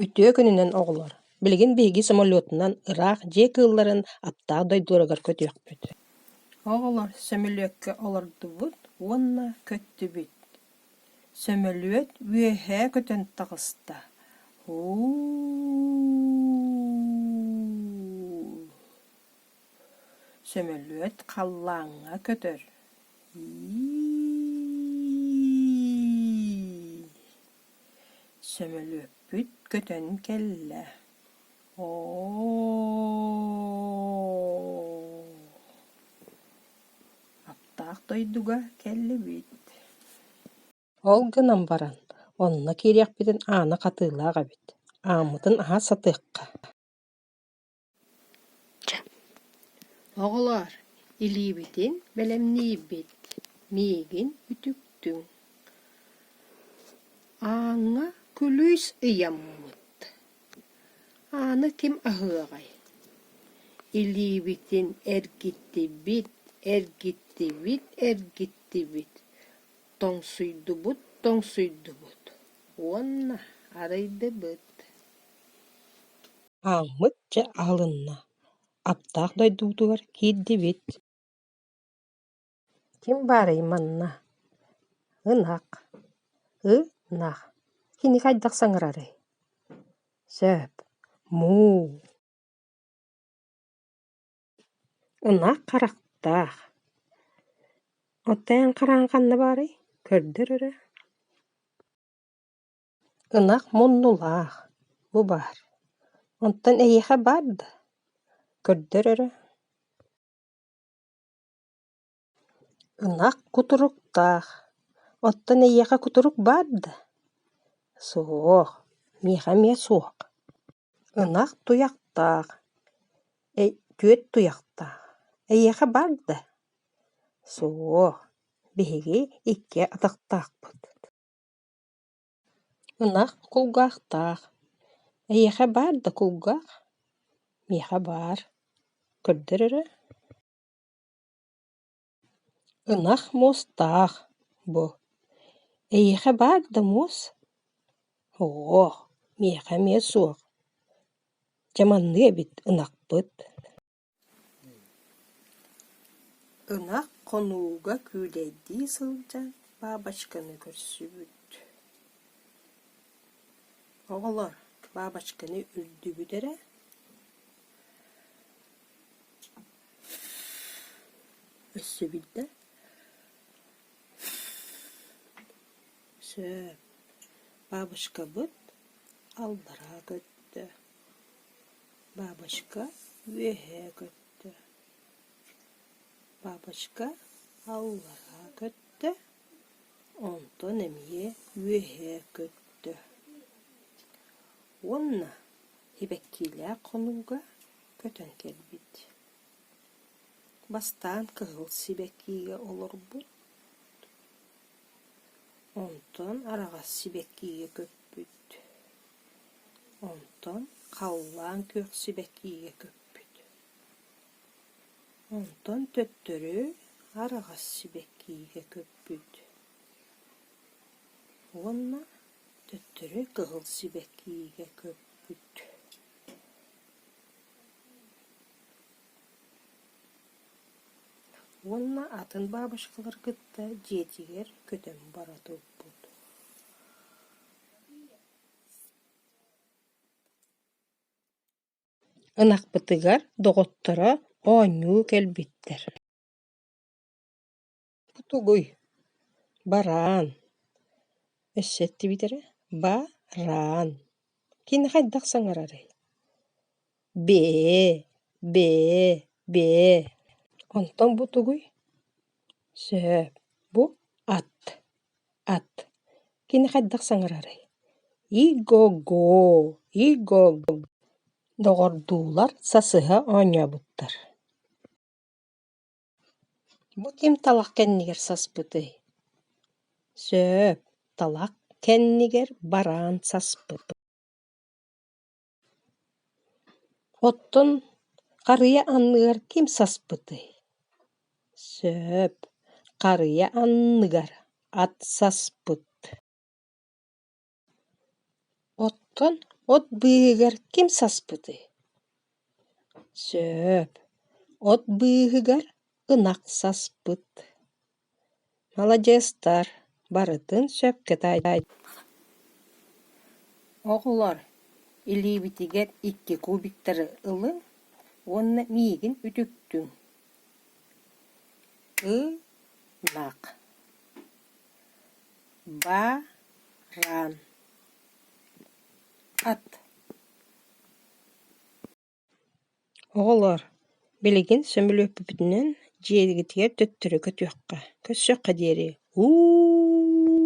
Үтүө күнүнэн, оҕолор! Билигин биһиги самолетунан ыраах дьиэ кыылларын аптаах дойдуоругар көтүөхпүт. Оҕолор, сөмөлүөккэ олордубут уонна көттүбүт. Сөмөлүөт үөһээ көтөн таҕыста. Һуу! Сөмөлүөт халлааҥҥа көтөр Сөмөлүөппүт көтөн кэллэ Аптаах дойдуга кэллибит Ол гынан баран, онно киириэхпитин аана хатыылаах эбит, ааммытын аһа сатыахха Оҕолоор, илиибитин бэлэмниибит, миигин үтүктүҥ, ааҥҥа күлүүс ыйаммыт, ааны ким аһыаҕай, илиибитин эргиттибит, эргиттибит, эргиттибит, тоҥсуйдубут, тоҥсуйдубут уонна арыйдыбыт Хааммыт дьэ аһылынна, аптаах дойдубутугар киирдибит Ким баарый манна? Ынах. Ынах. Кини хайдах саҥарарый? Сөп. Муу. Ынах харахтаах. Оттон эн хараҕаҥ ханна баарый? Көрдөр өрө. Ынах муннулаах, бу баар, онтон эйиэхэ баар да? Көрдөр өрө Ынах кутуруктаах, оттон эйиэхэ кутурук баар да? Суох, миэхэ эмиэ суох. Ынах туйахтаах, түөрт туйахтаах, эйиэхэ баар да? Суох, биһиги икки атахтаахпыт Ынах кулгаахтаах. Эйиэхэ баар да кулгаах? Миэхэ баар. Көрдөр эрэ. Ынах муостаах бу. Эйиэхэ баар да муос? Оо, миэхэ эмиэ суох. Дьэ маннык эбит ынахпыт Ынах хонууга күүлэйдии сылдьан бабочканы көрсүбүт Оҕолор, бабочканы үрдүгүт эрэ өссөбүл да сөп бабочкабыт аллараа көттө Бабочка үөһэ көттө, бабочка аллараа көттө, онтон эмиэ үөһэ көттө уонна сибэккиилээх хонууга көтөн кэлбит. Бастаан кыһыл сибэккиигэ олорбут, онтон араҕас сибэккиигэ көппүт. Онтон халлаан күөхсүбэтиигэ көппүт. Онтон төттөрү араҕас сибэккиигэ көппүт. Уонна төттөрү кыһыл сибэккиигэ көппүт. Уонна атын бабушкалары кытта дьиэтигэр көтөн бара турбут. Ынахпытыгар доҕотторо оонньуу кэлбиттэр Тугуй, бараан, өссө эттибитэрэ, баараан, кинини хайдах саҥарарый Бээ, бээ, бээ, онтон бу тугуй? Сөп, бу ат, ат. Кини хайдах саҥарарый? Иго-го, иго-го. Доҕордуулар сасыһа оонньообуттар. Бу ким талах кэннигэр саспытый? Сөп, талах кэннигэр бараан саспыт. Оттон харыйа анныгар ким саспытый? Сөп, харыйа анныгар ат саспыт. Оттон от быыһыгар ким саспытый? Сөп, от быыһыгар ынах саспыт. Маладьыастар, барытын сөпкө оҕолор, илиибитигэр икки кубиктары ылыҥ уонна миигин үтүктүҥ. Ынах. Баран. Ат. Оҕолоор, билигин сөмөлүөппүпүтүнэн дьиэбитигэр төттөрү көтүөххэ, көрсүөххэ диэри, уу!